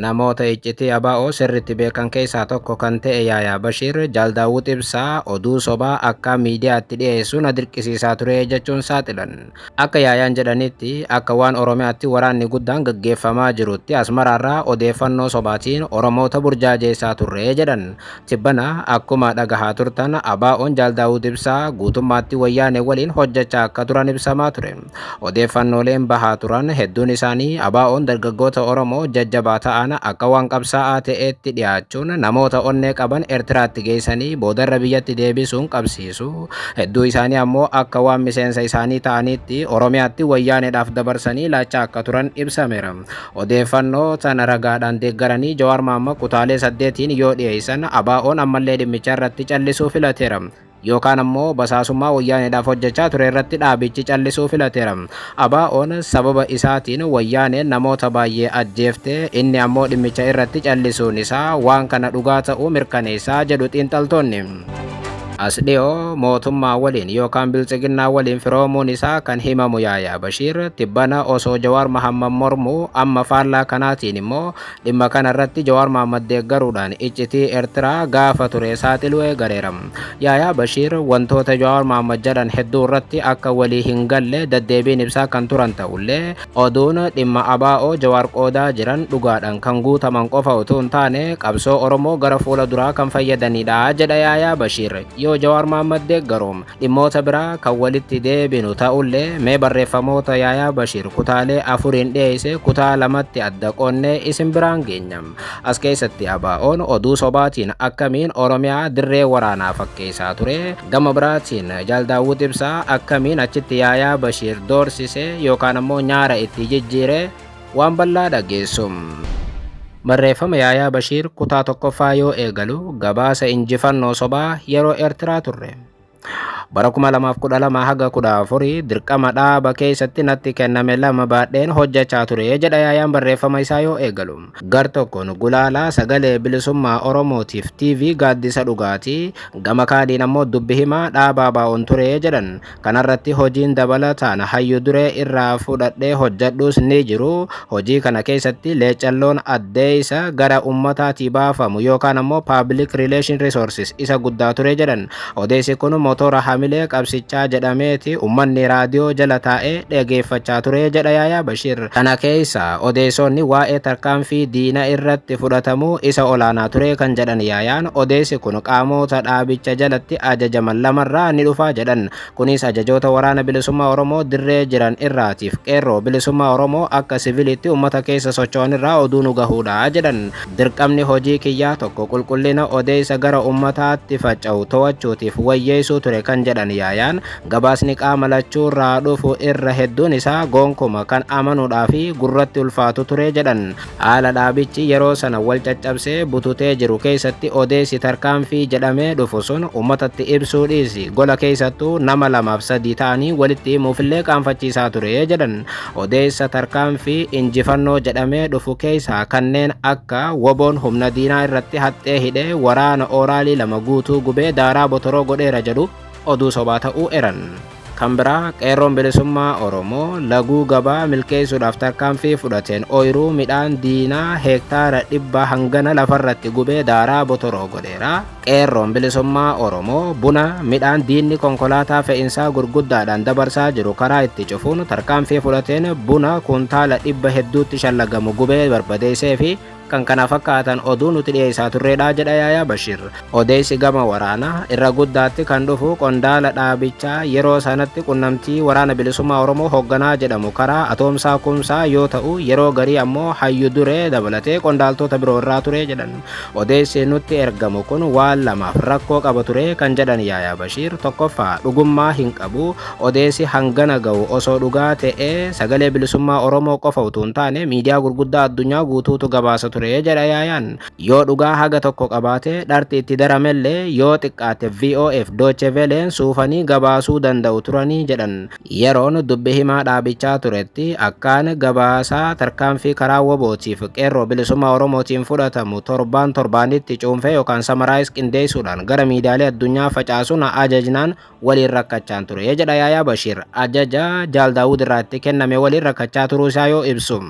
Namoota iccitii ABO sirriitti beekan keessaa tokko kan ta'e Yaayaa Bashiir, Jaal Daawud Ibsaa oduu sobaa akkaan miidiyaatti dhiyeessu na dirqisiisaa ture jechuun saaxilan. Akka Yaayaan jedhanitti, akka waan Oromiyaatti waraanni guddaan gaggeeffamaa jirutti Asmaraarraa odeeffannoo sobaatiin Oromoota burjaajeessaa turre jedhan. Tibbana akkuma dhagahaa turtan ABOn Jaal Daawud Ibsaa guutummaatti Wayyaanee waliin hojjechaa akka turan ibsamaa ture. Odeeffannooleen bahaa turan hedduun isaanii ABOn dargaggoota Oromoo jajjabaa ta'an akka waan qabsaa'aa ta'eetti dhiyaachuun namoota onnee qaban Ertiraatti geessanii boodarra biyyatti deebisuun qabsiisu, hedduu isaanii ammoo akka waan miseensa isaanii ta'aniitti Oromiyaatti Wayyaaneedhaaf dabarsanii laachaa akka turan ibsameera. Odeeffannoo tana ragaadhaan deeggaranii Jawaar Mahaammad kutaalee saddeetiin yoo dhiyeessan ABOn ammallee dhimmicha irratti callisuu filateera. Yookaan ammoo basaasummaa Wayyaaneedhaaf hojjechaa ture irratti dhaabichi callisuu filateera. ABOn sababa isaatiin Wayyaaneen namoota baay'ee ajjeefte, inni ammoo dhimmicha irratti callisuun isaa waan kana dhugaa ta'uu mirkaneessa jedhu xiinxaltoonni. As dhiyoo mootummaa waliin yookaan Biltsiginnaa waliin firoomuun isaa kan himamu Yaayaa Bashiir, tibbana osoo Jawaar Mahaammad mormu, amma faallaa kanaatiin immoo dhimma kana irratti Jawaar Mahaammad deeggaruudhaan iccitii Ertiraa gaafa ture saaxiluu eegaleera. Yaayaa Bashiir wantoota Jawaar Mahaammad jedhan hedduu irratti akka walii hin galle daddeebiin ibsaa kan turan ta'ullee, Oduun dhimma ABO Jawaar qoodaa jiran dhugaadhaan kan guutaman qofa utuu hin taane qabsoo Oromoo gara fuula duraa kan fayyadaniidha jedha Yaayaa Bashiir. Yoo Jawaar Mahaammad deeggaru dhimmoota biraa kan walitti deebinu ta'ullee mee barreeffamoota Yaayaa Bashiir kutaalee afuriin dhiyeesse kutaa lamatti adda qoonnee isin biraan geenya. As keessatti ABOn oduu sobaatiin akkamiin Oromiyaa dirree waraanaa fakkeessaa ture, gama biraatiin Jaal Daawud Ibsaa akkamiin achitti Yaayaa Bashiir doorsise yookaan ammoo nyaara itti jijjiire waan bal'aa dhageessu. Barreeffama Yaayaa Bashiir kutaa tokkoffaa yoo eegalu gabaasa injifannoo sobaa yeroo Eertiraa turre. Bara 2012 haga 14 dirqama dhaaba keessatti natti kenname lama baadheen hojjechaa ture jedha yaayaan barreeffama isaa yoo eegalu. Gar tokkoon gulaalaa sagalee bilisummaa Oromootiif TV gaaddisa dhugaatii gama kaaniin ammoo dubbi himaa dhaabaa baa'oon ture jedhan. Kanarratti hojiin dabalataan hayyu duree irraa fudhadhee hojjedhuus ni jiru. Hojii kana keessatti leeccalloon addeessa gara ummataatii baafamu yookaan ammoo public relation resources isa guddaa ture jedhan. Odeessi kun motora hamilee qabsichaa jedhameeti ummanni raadiyoo jala taa'ee dhageeffachaa ture jedha Yaayaa Bashiir. Kana keessa odeessoonni waa'ee tarkaanfii diina irratti fudhatamuu isa olaanaa ture kan jedhan Yaayaan, odeessi kun qaamoota dhaabicha jalatti ajajaman lamarraa ni dhufaa jedhan. Kunis ajajoota Waraana Bilisummaa Oromoo dirree jiran irraatiif Qeerroo Bilisummaa Oromoo akka siviliitti ummata keessa socho'an irraa oduu nu gahuudha jedhan. Dirqamni hojii kiyyaa tokko qulqullina odeessa gara ummataatti faca'u to'achuutiif wayyeessuu ture kan jedhan Yaayaan, gabaasni qaama lachuurraa dhufu irra hedduun isaa goonkuma kan amanuudhaafi gurratti ulfaatu ture jedhan. Haala dhaabichi yeroo sana wal caccabsee bututee jiru keessatti odeessi tarkaanfii jedhamee dhufu sun uummatatti ibsuu dhiisi gola keessattuu nama lamaaf sadii ta'anii walitti himuufillee qaanfachiisaa ture jedhan. Odeessa tarkaanfii injifannoo jedhamee dhufu keessaa kanneen akka woboon humna diinaa irratti haxxee hidhee waraana ooraalii lama guutuu gubee daaraa botoroo godheera jedhu oduu sobaa ta'uu eran. Kan biraa Qeerroon Bilisummaa Oromoo laguu gabaa milkeessuudhaaf tarkaanfii fudhateen ooyiruu midhaan diinaa heektaara dhibba hangana lafarratti gubee daaraa botoroo godheera. Qeerroon Bilisummaa Oromoo buna, midhaan diinni konkolaataa fe'insaa gurguddaadhaan dabarsaa jiru karaa itti cufuun tarkaanfii fudhateen buna kuntaala dhibba hedduutti shallagamu gubee barbadeessee fi kan kana fakkaatan oduu nuti dhiyeessaa turreedha jedha Yaayaa Bashir. Odeessi gama waraanaa irra guddaatti kan dhufu qondaala dhaabichaa yeroo sanatti qunnamtii waraana bilisummaa Oromoo hoogganaa jedhamu karaa atoomsaa kumsaa yoo ta'u yeroo garii ammoo hayyu duree dabalatee qondaaltota biroo irraa ture jedhan. Odeessi nutti ergamu kun waan lamaaf rakkoo qaba ture kan jedhan Yaayaa Bashir tokkoffaa dhugummaa hin qabu Odeessi hangana gahu osoo dhugaa ta'ee Sagalee Bilisummaa Oromoo qofa utuu hin taane miidiyaa gurguddaa addunyaa guutuutu gabaasa ture jedha Yaayaan. Yoo dhugaa haga tokko qabaate, dharti itti daramellee yoo xiqqaatte VOAf Dooche Veleen suufanii gabaasuu danda'u turani jedhan. Yeroon dubbi himaa dhaabichaa turetti akkaan gabaasaa tarkaanfii karaa wbo tiif Qeerroo Bilisummaa Oromootiin fudhatamu torbaan torbaanitti cuunfee yookaan summarize qindeessuudhaan gara miidiyaalee addunyaa facaasu na ajajnaan waliin rakkachaan ture jedha Yaayaa Bashiir ajaja Jaal Daawud irraatti kenname waliin rakkachaa turuu isaa yoo ibsu.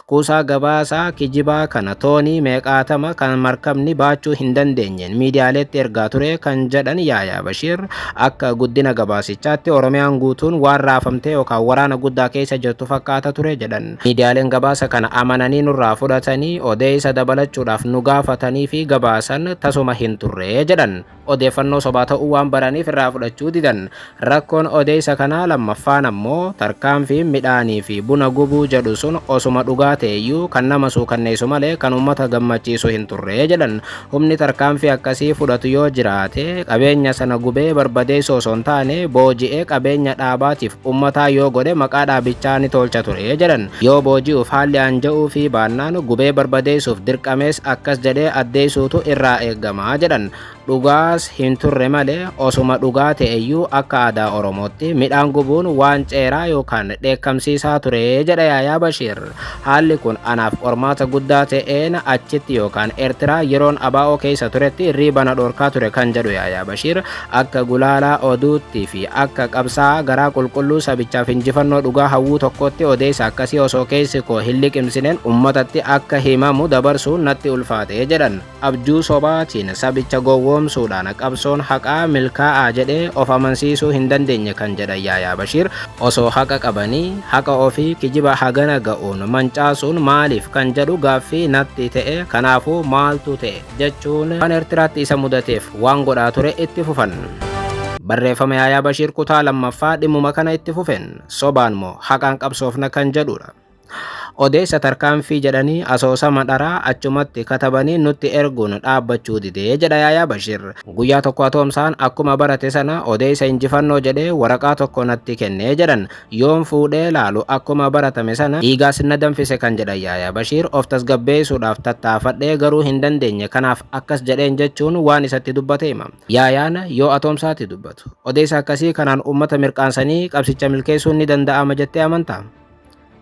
Kuusaa gabaasaa kijibaa kana toonii meeqaatama kan markabni baachuu hin dandeenyeen miidiyaaleetti ergaa ture kan jedhan Yaayaa Bashiir akka guddina gabaasichaatti Oromiyaan guutuun waan raafamtee yookaan waraana guddaa keessa jirtu fakkaata ture jedhan. Miidiyaaleen gabaasa kana amananii nurraa fudhatanii odeessa dabalachuudhaaf nu gaafatanii fi gabaasan tasuma hin turre jedhan. odeeffannoo sobaa ta'uu waan baraniif irraa fudhachuu didan. Rakkoon odeessa kanaa lammaffaan ammoo tarkaanfiin midhaanii fi buna gubuu jedhu sun osuma dhugaa ta'eyyuu kan nama suukanneessu malee kan uummata gammachiisu hin turre jedhan. Humni tarkaanfii akkasii fudhatu yoo jiraate qabeenya sana gubee barbadeessu osoo hin taane booji'ee qabeenya dhaabaatiif uummataa yoo godhe maqaa dhaabichaa ni toolcha ture jedhan. Yoo booji'uuf haalli aanja'uufii baannaan gubee barbadeessuuf dirqamees akkas jedhee addeessuutu irraa eegama, jedhan. Dhugaas hin turre malee osuma dhugaa ta'eyyuu akka aadaa Oromootti midhaan gubuun waan ceeraa yookaan dheekkamsiisaa ture, jedha Yaayaa Bashiir. Haalli kun anaaf qormaata guddaa ta'een achitti yookaan Ertiraa yeroon abo keessa turetti riiba na dhorkaa ture kan jedhu Yaayaa Bashiir, Akka gulaalaa oduutti fi akka qabsaa'aa garaa qulqulluu sabichaaf injifannoo dhugaa hawwuu tokkootti odeessa akkasii osoo keessi koo hin liqimsineen ummatatti akka himamu dabarsuun natti ulfaate jedhan. Abjuu sobaatiin sabicha gowwoomsuudhaan qabsoon haqaa milkaa'aa jedhee of amansiisuu hin dandeenye kan jedhan Yaayaa Bashiir, osoo haqa qabanii haqa ofii kijiba hagana ga'uun mancaasuun maaliif kan jedhu gaaffii natti ta'e. Kanaafuu maaltu ta'e? jechuun waan Ertiraatti isa mudateef waan godhaa ture itti fufan. Barreeffama Yaayaa Bashiir kutaa lammaffaa dhimmuma kana itti fufeen sobaan moo haqaan qabsoofna kan jedhudha. Odeessa tarkaanfii jedhanii asoosama dharaa achumatti katabanii nutti erguun dhaabbachuu didee jedha Yaayaa Bashiir. Guyyaa tokko atoomsaan akkuma barate sana odeessa injifannoo jedhee waraqaa tokko natti kennee jedhan. Yoon fuudhee ilaalu akkuma baratame sana dhiigaas na danfise kan jedhan Yaayaa Bashiir, of tasgabbeessuudhaaf tattaafadhee garuu hin dandeenye kanaaf akkas jedheen jechuun waan isatti dubbate hima. Yaayaan yoo atoomsaatti dubbatu. Odeessa akkasii kanaan uummata mirqaansanii qabsicha milkeessuun ni danda'ama jettee amantaa?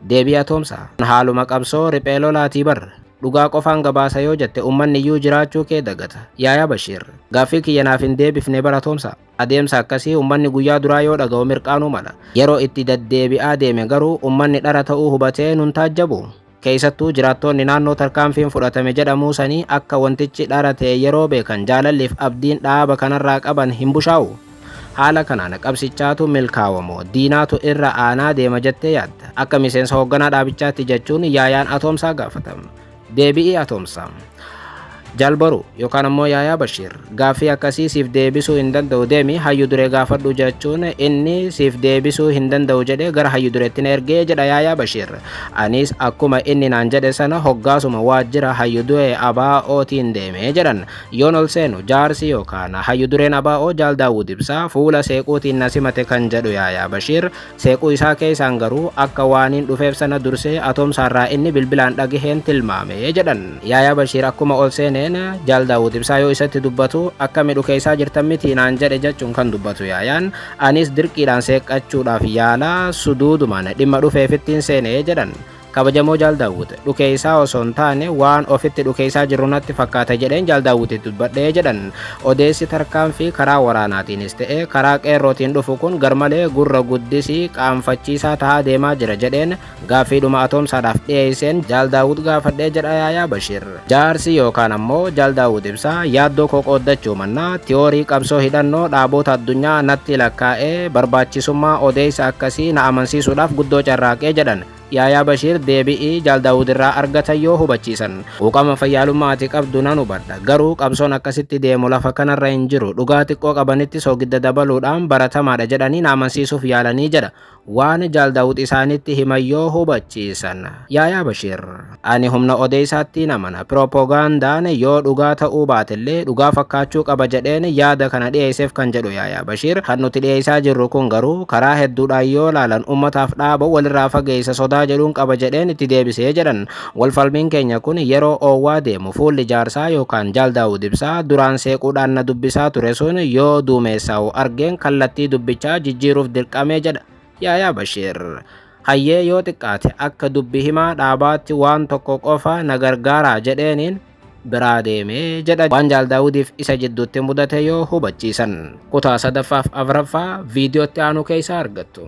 Deebii Atoomsaa. Kun haaluma qabsoo riphee lolaatii bar. Dhugaa qofaan gabaasa yoo jette uummanni iyyuu jiraachuu kee dagata. Yaayaa Bashiir. Gaaffii kiyya naaf hin deebifne bar Atoomsaa. Adeemsa akkasii ummanni guyyaa duraa yoo dhaga'u mirqaanuu mala. Yeroo itti daddeebi'aa deeme garuu ummanni dhara ta'uu hubatee nun taajjabu. Keessattuu jiraattoonni naannoo tarkaanfiin fudhatame jedhamuu sanii akka wantichi dhara ta'e yeroo beekan jaalalliif abdiin dhaaba kanarraa qaban hin bushaa'u. Haala kanaan qabsichaatu milkaawa moo diinaatu irra aanaa deema jettee yaadda? Akka miseensa hoogganaa dhaabichaatti jechuun Yaayaan Atoomsaa gaafata. Deebi'ii Atoomsa. Jaal Boruu yookaan ammoo Yaayaa Bashiir gaaffii akkasii siif deebisuu hin danda'u deemi hayyu duree gaafadhu jechuun inni siif deebisuu hin danda'u jedhee gara hayyu dureetti na ergee jedha Yaayaa Bashiir. Anis akkuma inni naan jedhe sana hoggaasuma waajjira hayyu duree ABOtiin deemee jedhan. Yoon ol seenu jaarsi yookaan hayyu dureen ABO Jaal Daawud Ibsaa fuula seequutiin na simate kan jedhu Yaayaa Bashiir Seequu isaa keessaan garuu akka waaniin dhufeef sana dursee atoomsaarraa inni bilbilaan dhagaheen tilmaame jedhan. Yaayaa Bashiir akkuma ol seeneen Jaal Daawud Ibsaa yoo isatti dubbatu akka midhu keessaa jirtan mitii naan jedhe jechuun kan dubbatu Yaayaan anis dirqiidhaan seeqqachuudhaaf yaalaa suduudumaan dhimma dhufeefittiin seene jedhan. Kabajamoo Jaal Daawwit, dhukeessaa osoo hin taane waan ofitti dhukeessaa jirru natti fakkaata jedheen Jaal Daawwititti dubbadhe jedhan. Odeessi tarkaanfii karaa waraanaatiinis ta'e karaa qeerrootiin dhufu kun garmalee gurra guddisii qaanfachiisaa tahaa deemaa jira jedheen gaaffiidhuma atoomsaadhaaf dhiyeesseen Jaal Daawwit gaafadhe jedha Yaayaa Bashir. Jaarsi yookaan ammoo Jaal Daawwit Ibsaa yaaddoo koo qooddachuu mannaa tiyoorii qabsoo hidhannoo dhaaboota addunyaa natti lakkaa'ee barbaachisummaa odeessa akkasii na amansiisuudhaaf guddoo carraaqe jedhan. Yaayaa Bashiir deebi'i Jaal Daawud irraa argatan yoo hubachiisan. Quuqama fayyaalummaa ati qabdu nan hubadha. Garuu qabsoon akkasitti deemu lafa kanarra hin jiru. Dhugaa xiqqoo qabanitti soogidda dabaluudhaan baratamaadha jedhanii na amansiisuuf yaalanii jedha. Waan Jaal Daawud isaanitti himan yoo hubachiisan. Yaayaa Bashiir. Ani humna odeessaattiin amana. Pirooppogaandaan yoo dhugaa ta'uu baatellee dhugaa fakkaachuu qaba jedheen yaada kana dhiyeesseef kan jedhu Yaayaa Bashiir, kan nuti dhiyeessaa jirru kun garuu karaa hedduudhaan yoo ilaalan ummataaf dhaaba walirraa fageessa sodaa jedhuun qaba jedheen itti deebise jedhan. Walfalmiin keenya kun yeroo oowwaa deemu fuulli jaarsaa yookaan Jaal Daawud Ibsaa duraan seequudhaan na dubbisaa ture sun yoo duumeessaa'u argeen kallattii dubbichaa jijjiiruuf dirqame jedha. Yaayaa Bashiir, Hayyee yoo xiqqaate akka dubbi himaa dhaabaatti waan tokko qofa na gargaaraa jedheeniin biraa deeme jedha waan Jaal Daawudiif isa jidduutti mudate yoo hubachiisan. Kutaa sadaffaaf afraffaa viidiyootti aanu keeysaa argattu.